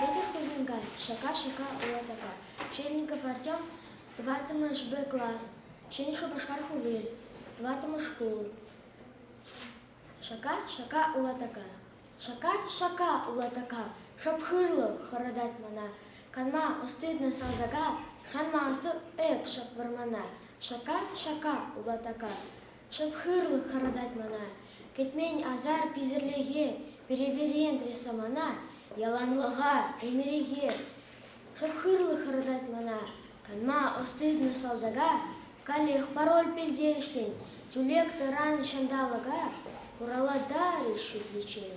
Вӗтӗ хусанкай, шака-шака улатака, Чельников Артем, тӑваттӑмӗшпе класс, Ҫӗнӗ Шупашкар хули, тӑваттӑмӗш шкул. Шака-шака улатака, шака-шака улатака, шӑп хырлӑх хӑратать мана. Канма ӑститнӑ салтака, шанма ӑсту эп шӑп вӑрмана. Шака-шака улатака, Чӑп-хырлӑх хӑратать мана. Кӗтмен асар-писерлӗхе переверентрӗ самана, яланлӑха, ӗмӗрехе. Чӑп-хырлӑх хӑратать мана. Канма ӑс-тытнӑ салтака каллех пароль пӗлтерӗшсен тӳлек-тӑран ҫанталӑка хураллатарӗҫ шӳтличчен.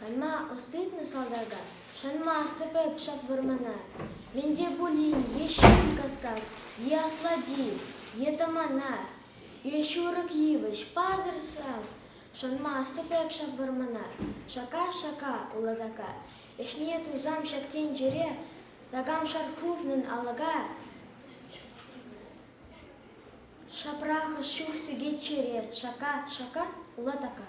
Канма ӑс-тытнӑ салтака шанмастӑп эп ҫак вӑрмана. Мӗн те пулин е ҫын кас-кас, е аслати, е тӑмана, Е ҫурӑк йывӑҫ, патӑр сас! Шӑнмастӑп эп ҫав вӑрманар, Шака, шака, улатака. Ӗҫне тусам ҫак тӗнчере, Такам шар хывнӑн алӑка. Ҫапрахӑш чух сикет чӗре, Шака, шака, улатака.